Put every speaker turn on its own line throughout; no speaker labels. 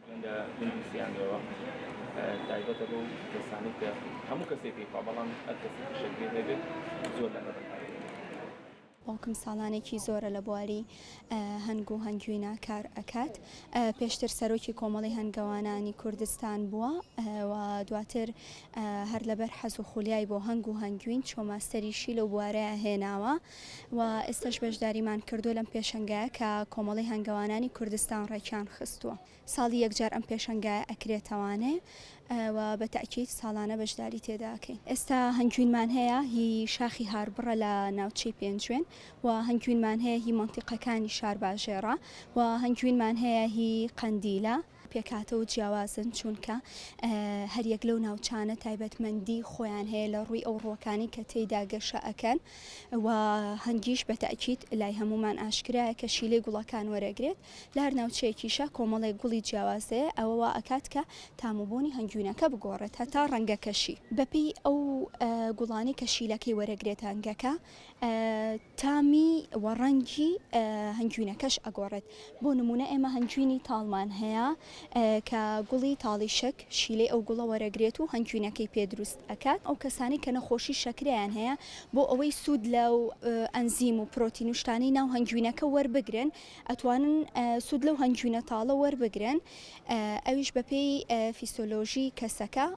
ڕەنگە نەیبیستیان بێەوە تایبەتە بەو کەسانەی کە هەموو کەسێک پێی پا بەڵام هەر کەسێک فشەک پێ نەبێت زۆر لە مەبەست
باوکم ساڵانێکی زۆرە لە بواری هەنگ و هەنگوینە کار ئەکات پێشتر سەرۆکی کۆمەڵی هەنگەوانانی کوردستان بووە و دواتر هەر لەبەر حەز و خولیای بۆ هەنگ و هەنگوین چۆماستەریشی لەو بوارەیە هێناوە و ئێستاش بەشداریمان کردووە لەم پێشەنگایە کە کۆمەڵی هەنگەوانانی کوردستان ڕێکیان خستووە ساڵی یەکجار ئەم پێشەنگایە ئەکرێتەوانێ و بە تاکیت ساڵانە بەشداری تێداکەین ئێستا هەنگوینمان هەیە هی شاخی هاربڕە لە ناوچەی پێنجوێن و هەنگوینمان هەیە هی منتیقەکانی شار باژێڕە و هەنگوینمان هەیە هی قەندیلە پێکهاتە و جیاوازن، چوونکە هەر یەک لەو ناوچانە تایبەتمەندی خۆیان هەیە لە ڕووی ئەو ڕووەکانی کە تێیدا گەشە ئەکەن و هەنگیش بە تەئکید لای هەموومان ئاشکرایە کە شیلەی گوڵەکان وەرەگرێت لە هەر ناوچەیەکیشا کۆمەڵێک گوڵی جیاواز هەیە ئەوە وا ئەکات کە تام و بۆنی هەنگوینەکە بگۆڕێت هەتا ڕەنگەکەشی بەپێی ئەو گوڵانەی کە شیلەکەی وەرەگرێت هەنگەکە تامی و ڕەنگی هەنگوینەکەش ئەگۆڕێت، بۆ نموونە ئێمە هەنگوینی تاڵمان هەیە کە گوڵی تاڵی شەک شیلەی ئەو گوڵە وەرەگرێت و هەنگوینەکەی پێ دروست ئەکات، ئەو کەسانەی کە نەخۆشی شەکرەیان هەیە بۆ ئەوەی سوود لەو ئەنزیم و پرۆتین و شتانەی ناو هەنگوینەکە وەربگرن ئەتوانن سوود لەو هەنگوینە تاڵە وەربگرن ئەویش بەپێی فیسۆلۆژی کەسەکە.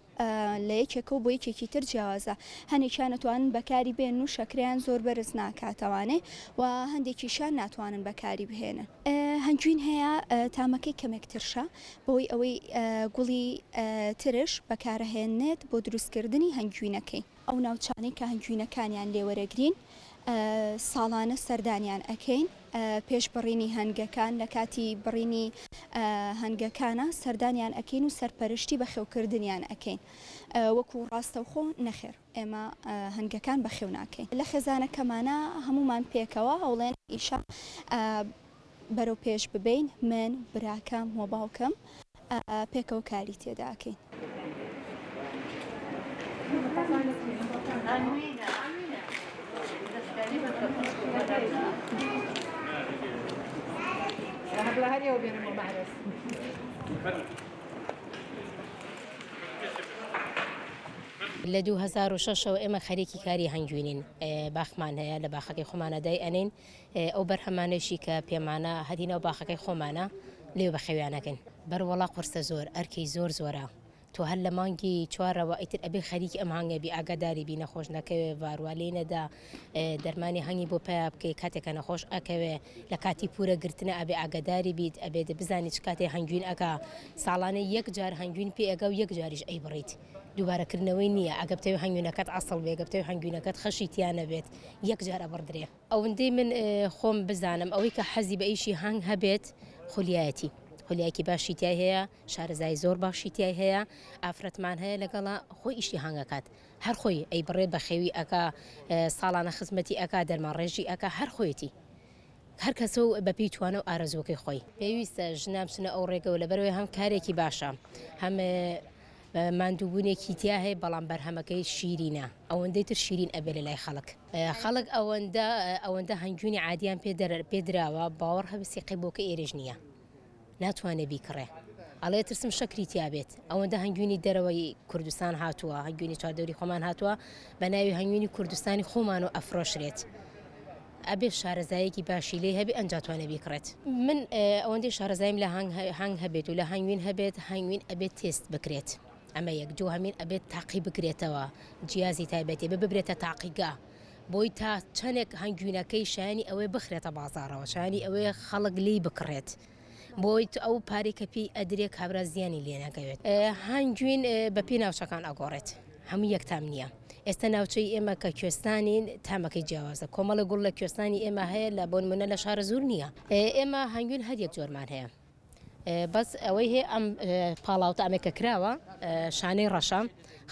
لە یەکێکە و بۆ یەکێکی تر جیاوازە، هەنێکیان ئەتوانن بەکاری بێنن و شەکرەیان زۆر بەرز ناکاتەوانێ و هەندێکیشیان ناتوانن بەکاری بهێنن. هەنجوین هەیە تامەکەی کەمێک ترشە بەوەی ئەوەی گوڵی ترش بەکارەهێنێت بۆ دروستکردنی هەنجوینەکەی. ئەو ناوچانەی کە هەنگوینەکانیان لێ وەرەگرین ساڵانە سەردانیان ئەکەین پێش بڕینی هەنگەکان لە کاتی بڕینی هەنگەکانە سەردانیان ئەکەین و سەرپەرشتی بەخێوکردنیان ئەکەین وەکو ڕاستەوخۆ نەخێر ئێمە هەنگەکان بەخێو ناکەین لە خێزانەکەمانە هەمومان پێکەوە هەوڵێن ئیشە بەرەو پێش ببین من براکەم و باوکم. پێکەوە کاری تێدا ئەکەین.
لە دوو هەزار و شەش ەوە ئێمە خەریکی کاری هەنگوینین باخمان هەیە لە باخەکەی خۆمانە دای ئەنین ئەو بەرهەمانەیشی کە پێمانە هەدی ناو باخەکەی خۆمانە لێ بەخێویانەکەین. بەر وەڵا قورسە زۆر ئەرکی زۆر زۆرە تۆ هەر لە مانگی چوارەوە ئیتر ئەبێ خەریکی ئەم هەنگە بی ئاگاداری بی نەخۆش نەکەوێ ڤاروا لێی نەدا دەرمانی هەنگی بۆ پیا بکەی کاتێک کە نەخۆش ئەکەوێ لە کاتی پورە گرتنە ئەبێ ئاگاداری بیت ئەبێت بزانی چ کاتێ هەنگوین ئەکا ساڵانە یەک جار هەنگوین پێ ئەگا و یەک جاریش ئەی بڕیت دووبارە کردنەوەی نیە ئەگە بتەوێ هەنگوینەکەت عەسڵ بێ گە بتەوێ هەنگوینەکەت خەشی تیا نەبێت یەک جار ئەبڕدرێ. ئەوندەی من خۆم بزانم ئەوەی کە حەزی بە ئیشی هەنگ هەبێت خولیایەتی خولیایەکی باشی تیای هەیە شارەزایی زۆر باشی تیای هەیە ئافرەتمان هەیە لەگەڵا خۆی ئیشی هەنگ ئەکات هەر خۆی ئەیبڕێ بەخێوی ئەکا ساڵانە خزمەتی ئەکا دەرمانڕێژی ئەکا هەر خۆیەتی هەر کەسە و بە پێی توانا و ئارەزووەکەی خۆی. پێویستە ژنان بچنە ئەو ڕێگە و لەبەرئەوەی هەم کارێکی باشە هەم ماندووبوونێکی تیا هەیە بەڵام بەرهەمەکەی شیرینە ئەوەندەی تر شیرین ئەبێ لە لای خەڵک خەڵک ئەوەندە ئەوەندە هەنگوینی عادیان پێ پێدراوە باوەڕ هەبێ سیقەی بۆکە ئێرەش نییە. ناتوانێ بیکڕێ ئەڵێ ترسم شەکری تیابێت ئەوەندە هەنگوینی دەرەوەی کوردستان هاتووە هەنگوینی چواردەوری خۆمان هاتووە بە ناوی هەنگوینی کوردستانی خۆمان و ئەفرۆشرێت. ئەبێ شارەزایەکی باشی لێ هەبێ ئەنجاتوانە بیکڕێت من ئەوەندەی شارەزایم لە هەنگ هەبێت و لە هەنگوین هەبێت هەنگوین ئەبێت تێست بکرێت ئەمە یەک دوو هەمین ئەبێت تاقی بکرێتەوە جیازی تایبەتێ ببرێتە تاقیگە. بۆی تا چەنێک هەنگوینەکەی شایانی ئەوەی بخرێتە بازارەوە شایانی ئەوەی خەڵک لی بکڕێت بۆی ئەو پارێک کە پێی ئەدرێ کابرا زیانی لێ نەکەوێت هەنگوین بە پێی ناوچەکان ئەگۆڕێت هەموو یەک تام نییە ئێستا ناوچەی ئێمە کە کوێستانی تامەکەی جیاوازە کۆمەڵە گوڵ لە کوێستانی ئێمە هەیە لە بۆنمونە لە شارە زور نییە ئێمە هەنگوین هەر یەک جۆرمان هەیە بەس ئەوەی هەیە ئەم پاڵاوتە ئەمەی کە کراوە شانەی ڕەشە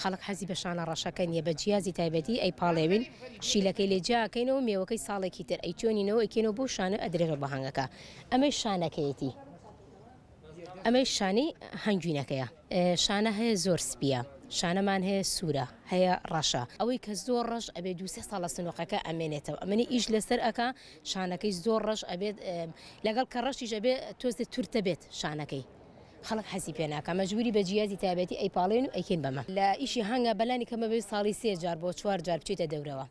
خەڵک حەزی بە شانە ڕەشەکە نیە بە جیازی تایبەتی ئەی پاڵێوین شیلەکەی لێ جیاکەینەوە مێوەکەی ساڵێکی تر ئەی چۆنینەوە ئەکێنەوە بۆ شانە ئەدرێنەوە بە هەنگەکە ئەمەی شانەکەیەتی ئەمەی شانی هەنگوینەکەیە شانە هەیە زۆر سپیە شانەمان هەیە سوورە هەیە ڕەشە ئەوەی کە زۆر ڕەش ئەبێ دوسێ ساڵە سنوقەکە ئەمێنێتەوە ئەمەنی ئیش لەسەر ئەک شانەکەی زۆر ڕەش ئەبێت لەگەڵ کە ڕەشیش ئەبێ تۆزێ تورتە بێت شانەکەی خەڵک حەزی پێ ناکە مەجبوری بە جیازی تابەتی ئەی پاڵێن و ئەیکەین بەمە لە ئیشی هەنگە بەلانی کەمەبێ ساڵی سێ جار بۆ چوار جار بچیتە دەورەوە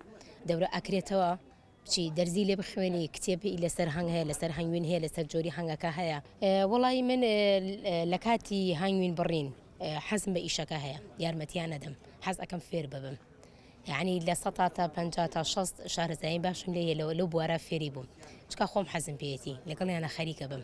دەورە ئەکرێتەوە چی دەرزی لێ بخوێنی کتێبی لەسەر هەنگ هەیە لەسەر هەنگوین هەیە لەسەر جۆری هەنگەکە هەیە وڵی من لە کاتی هەنگوین بڕین حەزم بە ئیشەکە هەیە یارمەتیان نەدەم حەز ئەەکەم فێر ببم. یعنی لە سەتا تا پەنجا تا شەست شارەزایی باشم لێ یە لەوە لەو بوارە فێری بووم چکا خۆم حەزم پێیەتی لەگەڵیانە خەریکە بم